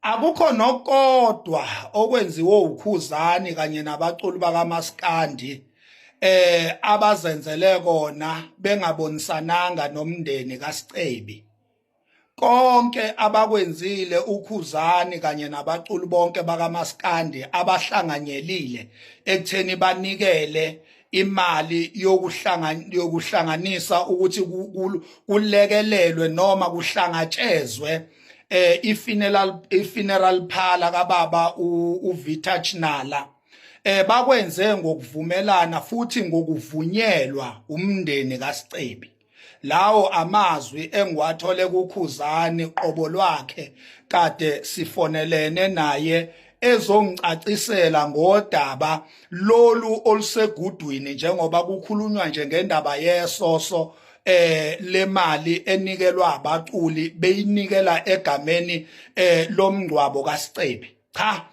akukho nokodwa okwenziwe ukhuzani kanye nabaculi bakamaskandi eh abazenzele kona bengabonisananga nomndeni kaSicebi konke abakwenzile ukhuzani kanye nabaculi bonke bakamaskandi abahlanganyelile ekutheni banikele imali yokuhlanganisa ukuthi kulekelelwe noma kuhlangatshezwe eh ifuneral ifuneral phala kababa uVita Chinala eh bakwenze ngokuvumelana futhi ngokuvunyelwa umndeni kaScebi lawo amazwi engiwathole kukhuzani qobo lwakhe kade sifonelene naye ezongicacisela ngodaba lolu olusegudwini njengoba kukhulunywa nje ngendaba yesoso eh lemali enikelwa abaculi beyinikela egameni eh lomngcwabo kaSicebi cha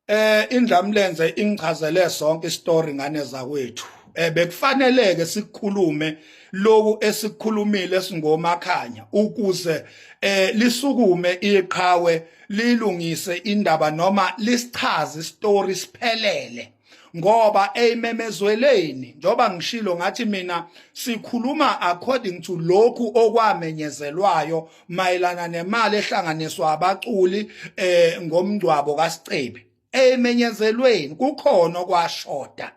Eh indlamlenze ingichazele sonke istory ngane zakwethu. Eh bekufaneleke sikhulume loku esikhulumile singomakhanya ukuze eh lisukume iqhawe lilungise indaba noma lisichaze istory siphelele. ngoba eyimemezweleni njoba ngishilo ngathi mina sikhuluma according to lokhu okwamenyezelwayo mayelana nemali ehlanganiswa abaculi eh ngomngcwabo kaSicebi emenyezelweni kukhona okwashoda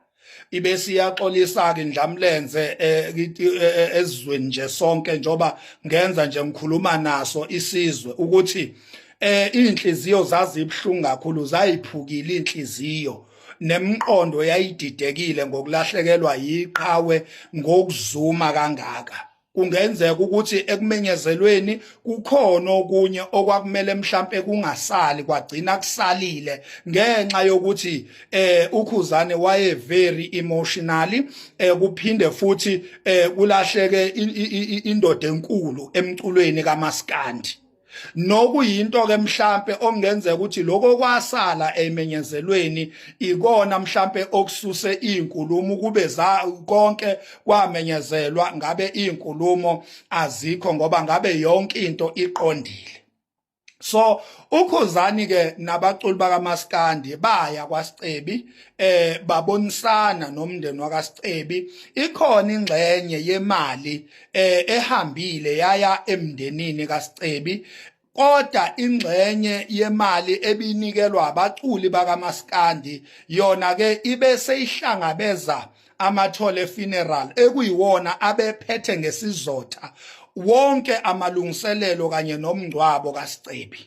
ibesiyaxolisa ke ndlamlenze eh, eh, eh, ezweni nje sonke njoba ngenza nje ngikhuluma naso isizwe ukuthi eh inhliziyo zazibhlungu kakhulu zayiphukile inhliziyo nemqondo yayididekile ngokulahlekelwa yiqhawe ngokuzuma kangaka kungenzeka ukuthi ekumenyezelweni kukhona okunye okwakumele mhlambe kungasali kwagcina kusalile ngenxa yokuthi eh ukhuzane waye very emotionally eh kuphinde futhi eh kulahleke indoda enkulu emculweni kamaskandi nokuyinto ke mhlambe okungenzeka ukuthi lokho kwasala emenyezelweni ikona mhlambe okususe izinkulumo kube za konke kwamenyezelwa ngabe izinkulumo azikho ngoba ngabe yonke into iqondile so ukhuzani ke nabaculi bakamaskandi baya kwasicebi eh babonisana nomndeni wakasicebi ikhona ingxenye yemali eh ehambile yaya emndenini kaScebi kodwa ingxenye yemali ebinikelwa abaculi bakamaskandi yona ke ibe seyihlangabeza amathole funeral ekuyiwona abephethe ngesizotha wonke amalungiselelo kanye nomngcwabo kaScebi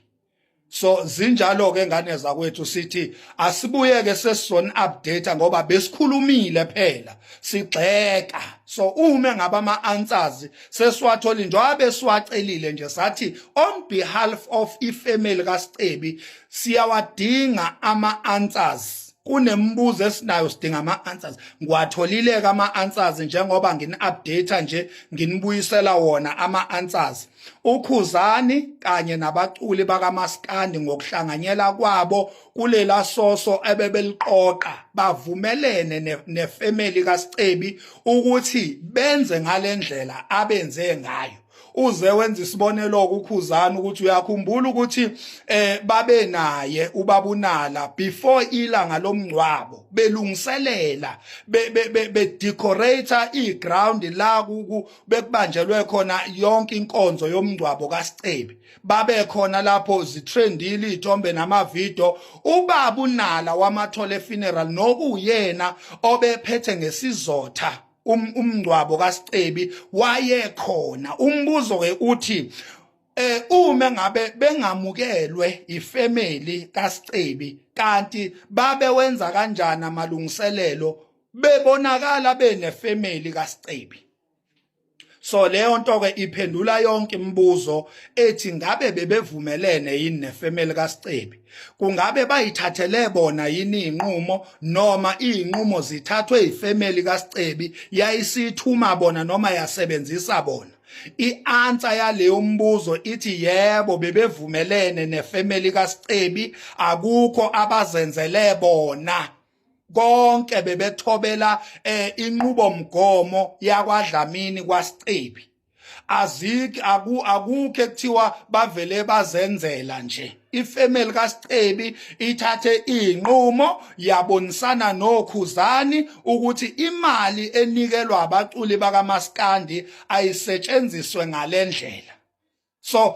so zinjalo ke ngane zakwethu sithi asibuyeke sesizon update ngoba besikhulumile phela sigxeka so uma ngaba ama answers sesiwatholi njengoba siwacelile nje sathi on behalf of ifamily kaScebi siyawadinga ama answers kunemibuzo esinayo sidinga ama answers ngiwatholileke ama answers njengoba ngini update nje nginibuyisela wona ama answers uKhuzani kanye nabaculi bakamaskandi ngokuhlanganyela kwabo kulela soso ebebeliqoqa bavumelene nefamily kaScebi ukuthi benze ngalendlela abenze ngayo uze wenza isibonelo kukhuzana ukuthi uyakhumbula ukuthi eh babe naye ubabunala before ilanga lomngcwabo belungiselela be decorator iground la bekubanjelwe khona yonke inkonzo yomngcwabo kaScebi babe khona lapho zitrendile izithombe namavideo ubaba unala wamathole funeral nokuyena obephethe ngesizotha um, umngcwabo kaScebi wayekhona umbuzo ke uthi eh uma ngabe bengamukelwe ifamily kaScebi kanti babe wenza kanjani amalungiselelo bebonakala bene family kaScebi so leyo nto ke iphendula yonke imibuzo ethi ngabe bebevumelene yini nefamily kaScebi kungabe bayithathele bona yini inqumo noma inqumo zithathwe ifamily kaScebi yayisithuma bona noma yasebenzisa bona I-answer yaleyo mbuzo ithi yebo bebevumelene nefamily kaScebi akukho abazenzele bona konke bebethobela eh, inqubomgomo yakwaDlamini kwaSicebi aziki aku akukho ekuthiwa bavele bazenzela nje ifamily kaSicebi ithathe inqumo yabonisana nokhuzani ukuthi imali enikelwa abaculi bakamaskandi ayisetshenziswe ngalendlela so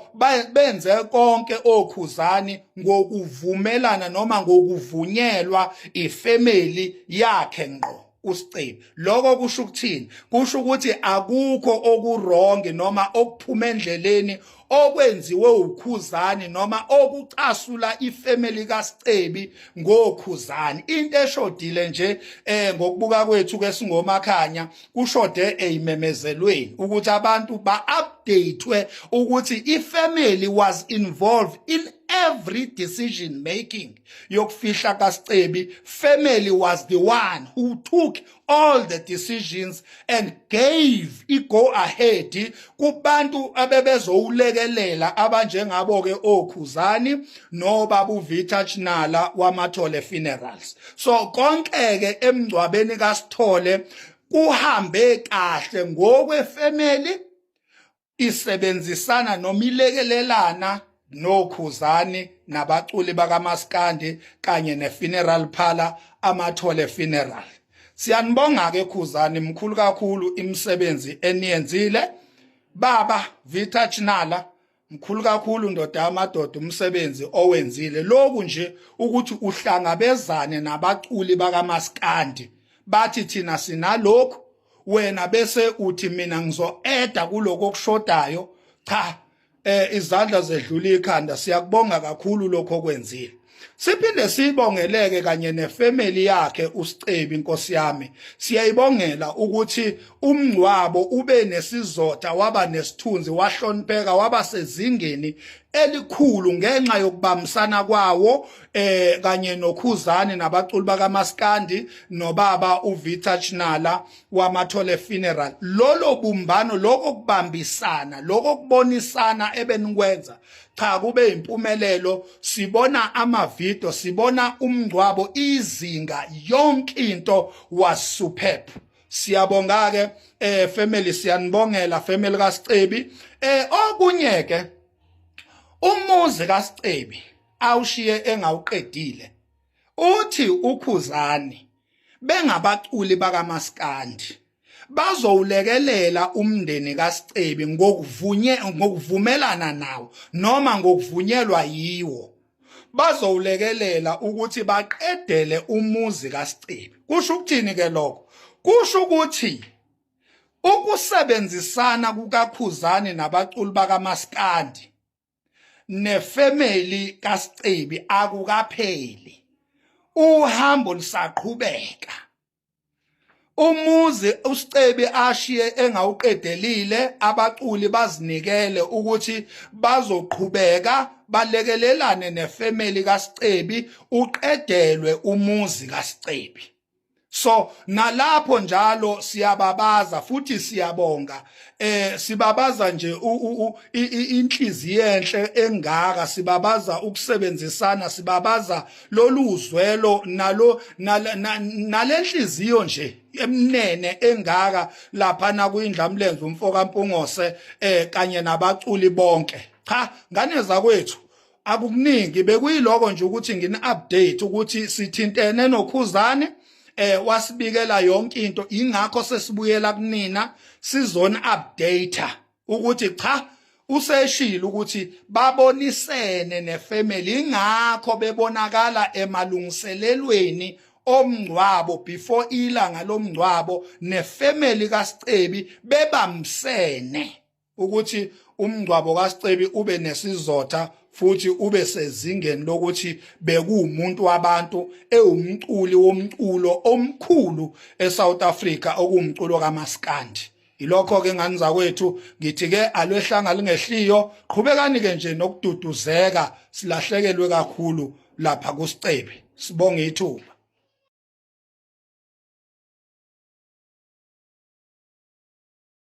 benze konke okhuzani ngokuvumelana noma ngokuvunyelwa ifamily yakhe ngqo usicebi lokho kusho ukuthini kusho ukuthi akukho okurongi noma okuphuma endleleni okwenziwe ukhuzani noma okucasula ifamily kaScebi ngokhuzani into eshodile nje eh ngokubuka kwethu ke singomakhanya kushode eyimemezelweni ukuthi abantu ba-updatwe ukuthi i-family was involved in every decision making yokufihla kasicebi family was the one who took all the decisions and gave i-go ahead kubantu abebezowulekelela abanjengabo-ke okhuzani nobabuvitha chinala wamathole funerals so konke ke emngcwabeni kaSithole kuhambe kahle ngokwe family isebenzisana noma ilekelelana nokhuzani nabaculi bakamaskandi kanye nefuneral phala amathole funeral siyanibonga ke khuzani mkhulu kakhulu imisebenzi eniyenzile baba vita chinala mkhulu kakhulu ndoda yamadoda umsebenzi owenzile lokhu nje ukuthi uhlangabezane nabaculi bakamaskandi bathi thina sinalokhu wena bese uthi mina ngizoeda kuloko okushodayo cha eh izandla zedlula ikhanda siyakubonga kakhulu lokho okwenzile Siphinde sibongeleke kanye nefamily yakhe uScebi inkosi yami. Siyayibongela ukuthi umngcwabo ube nesizotha waba nesithunzi wahlonipheka waba sezingeni elikhulu ngenxa yokubambisana kwawo eh kanye nokhuzani nabaculi bakamaskandi nobaba uVictor Chinala wamathole funeral lolo bumbano lokho kubambisana lokho kubonisana ebenikwenza cha kube impumelelo sibona amavideo sibona umngcwabo izinga yonke into was superb siyabonga ke eh family siyanibongela family kaScebi eh okunye ke umuzi kaScebi awushiye engawuqedile uthi ukhuzani bengabaculi bakamaskandi bazowulekelela umndeni kaScebi ngokuvunye ngokuvumelana nawo noma ngokuvunyelwa yiwo bazowulekelela ukuthi baqedele umuzi kaScebi kusho ukuthini ke lokho kusho ukuthi ukusebenzisana kukaKhuzani nabaculi bakamaskandi nefamily kaScebi akukapheli uhambo lisaqhubeka umuzi usicebi ashiye engawuqedelile abaculi bazinikele ukuthi bazoqhubeka balekelelane nefamily kaSicebi uqedelwe umuzi kaSicebi so nalapho njalo siyababaza futhi siyabonga eh sibabaza nje inhliziyo enhle engaka sibabaza ukusebenzisana sibabaza loluzwelo nalo nalenhliziyo nje emnene engaka lapha na kuyindlamlenze umfoka Mpungose eh kanye nabaculi bonke cha ngane zakwethu akukuningi bekuyiloko nje ukuthi ngini update ukuthi sithintene nokhuzane eh wasibikela yonke into ingakho sesibuyela kunina sizona updater ukuthi cha useshilo ukuthi babonisene nefamily ingakho bebonakala emalungiselelweni omngcwabo before ilanga lomngcwabo nefamily kaScebi bebamsene ukuthi umngcwabo kaScebi ube nesizotha futhi ube sezingeni lokuthi bekuwumuntu wabantu ewumculi womculo omkhulu eSouth Africa okuwumculo kaMaskandi Yilokho ke ngani zakwethu ngithi ke alwehlanga lingehliyo qhubekani ke nje nokududuzeka silahlekelwe kakhulu lapha kusicebi sibonga ithuba